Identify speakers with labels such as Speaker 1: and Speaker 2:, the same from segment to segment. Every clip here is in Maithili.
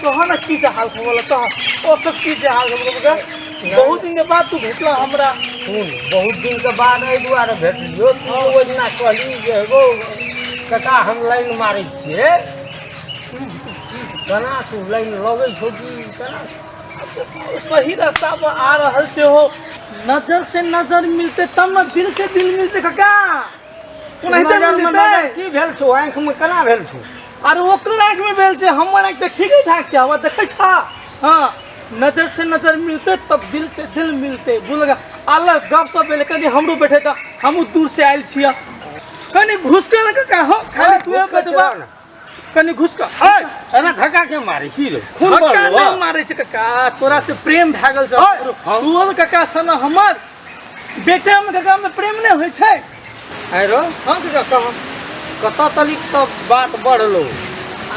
Speaker 1: तोहर ने की हाल खबर तो ओ सब की हाल खबर बहुत दिन के बाद तू भेटला हमरा सुन बहुत दिन के बाद एहि दुआरे भेटलियो तू हाँ। ओहि दिना कहली जे एगो कका हम लाइन मारै छियै केना छौ लाइन लगै छौ कि केना सही रास्ता पर आ रहल छै हो नजर से नजर मिलते तब न दिल से दिल मिलते कका ओनाहिते नजर मे मिलतै। नजर की भेल छौ आँख में केना भेल छौ अरे ओकर आँख में भेल छै हमर आँख तऽ ठीके ठाक छै आवाज देखै छा हाँ नजर से नजर मिलते तब दिल से दिल मिलते बोलगा अलग गप सब भेल कनी हमरो बैठे तऽ हमहूँ दूर से आयल छियै कनी घुसके रख का हो खाली तू घुसके बतबा चला ना। कनी घुसका हट अरे धक्का के मारे छी रे खून धक्का बढ़लो नहीं मारे छै कका तोरा से प्रेम भए गेल छै हट। तू और कका सन हमर बेटा में कका में प्रेम नहीं होय छै आरो हम कका कह कत तलिक तो बात बढ़लो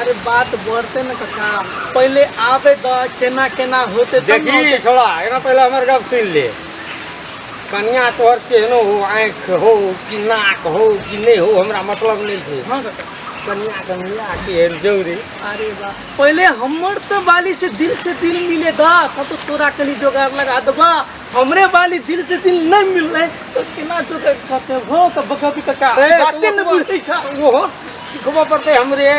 Speaker 1: अरे बात बढ़ते न कका पहले आवे द केना केना होते तब न देखी होते। छोड़ा एकरा पहले हमर गप सुन ले कन्या तोहर केहनो हो आँख हो कि नाक हो कि नहीं हो हमरा मतलब नहीं छै हाँ कका कन्या के मिला के हेल जौरी अरे बा पहले हमर तो बाली से दिल से दिल मिले दा तब तो तोरा कली जोगाड़ लगा दबा हमरे बाली दिल से दिल नहीं मिल रहे तो केना जोगाड़ करते हो तो बका भी कका अरे, बाते न बुझे छा ओहो सिखबो पड़ते हमरे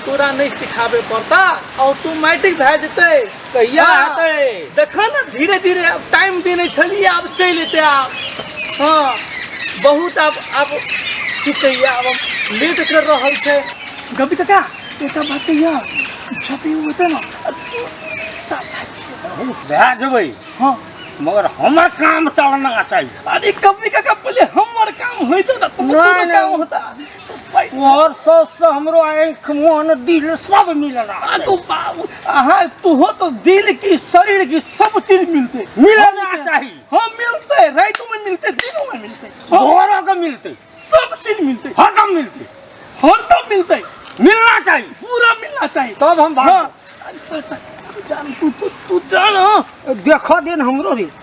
Speaker 1: तोरा नहीं सिखावे पड़ता और तू मैट्रिक भए जेते कहिया हाँ। हेतै देखऽ ने धीरे धीरे आब टाइम देने छलियै आब चलि एतै आब हँ बहुत आब आब की कहियै आब हम लेट कर रहल छै गपी काका एकटा बात कहिया इच्छा पे होतै ने बहुत भए जेबै हँ मगर हमर काम चलना चाहिए अरे कभी काका पहिले हमर काम होइतो तऽ तोहर नहि, नहि। काम होता तोहर सास से हमरो आँख मन दिल सब मिलला आगो बाबू अहाँ तुहो तो दिल की शरीर की सब चीज मिलते मिलना चाही हाँ मिलते रातों में मिलते दिनों में मिलते भोरों के मिलते सब चीज मिलते हरदम मिलते हरदम मिलते मिलना चाहिए पूरा मिलना चाहिए तब हम भाग जान तू तू तू जान हाँ। देखो दिन हमरो रे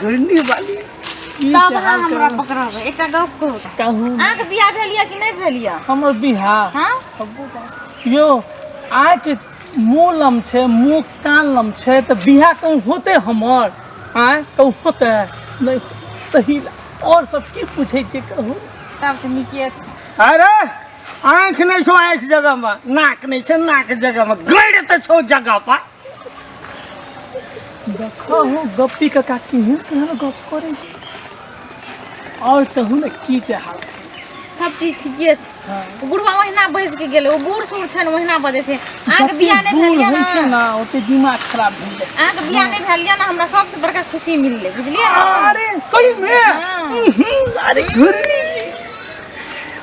Speaker 1: घुरनी वाली ई तब अहाँ चाहल हमरा करू। पकड़ब एकटा गप कहू कहू अहाँके बियाह भेल यऽ कि नहि भेल यऽ हमर बिहार हँ यो आके मुँह लम छै मुँह कान लम छै तऽ बिहा कहूँ होते हमर आय कहूँ होते नहि तही और सब की पूछे छै कहू तब तऽ नीके छै अरे आँख नहि छौ आँख जगह मे नाक नहि छौ नाक जगह मे गड़ तऽ छौ जगह पर देखो हो गप्पी का का केहन केहन गप करे छै। और कहू ने की चाहब सब चीज ठीके छै बुढ़वा ओहिना बैस के गेलै ओ बूढ़ सूढ़ छै ने ओहिना बजै छै अहाँके जते बियाह नहि बूढ़ भेल होइ छै यऽ ने ना ओते दिमाग खराब भऽ जाइ अहाँके बियाह नहि भेल यऽ ने हमरा सबसँ बड़का खुशी मिललै बुझलियै ने अरे सही में हाँ। हम्म, अरे घुरनी जी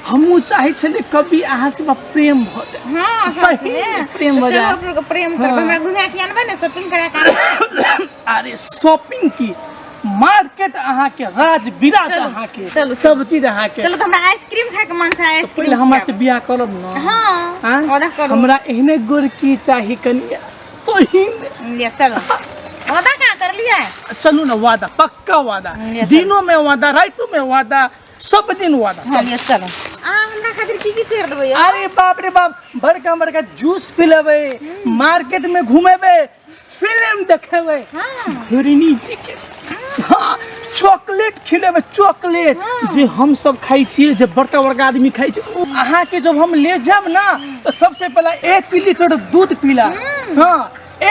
Speaker 1: हमहूँ चाहै छलियै कभी अहाँ से हमरा प्रेम भऽ जाय हाँ सही सच में में प्रेम तो चलो बजा। आप लोग को प्रेम करब हमरा घुमा के अनबै ने शॉपिंग करा के आनबै। अरे शॉपिंग की मार्केट अहाँ के राज विराज चलू, अहाँ के चलू, सब चीज अहाँ के चलो तो हमरा आइसक्रीम खाए के मन छै पहिले आइसक्रीम हमरा से बियाह करब न हाँ हाँ? ओदा करू हमरा एहने गोरकी चाही कनिया सही में। ले चलो ओदा का कर लिया चलू ना वादा पक्का वादा ले चल। दिनों में वादा रातों में वादा सब दिन हुआ था चलिए चलो आ हमरा खातिर की की कर देबै यौ? अरे बाप रे बाप बड़का बड़का जूस पिलेबे मार्केट में घूमेबे फिल्म देखेबे हिरनी जी के हाँ, चॉकलेट खिलेबे चॉकलेट जे हम सब खाई छिए जे बड़का बड़का आदमी खाई छै उ अहाँ के जब हम ले जाब ना तो सबसे पहला एक लीटर दूध पिला हाँ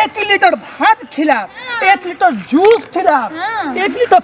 Speaker 1: एक लीटर भात खिला एक लीटर जूस खिला एक लीटर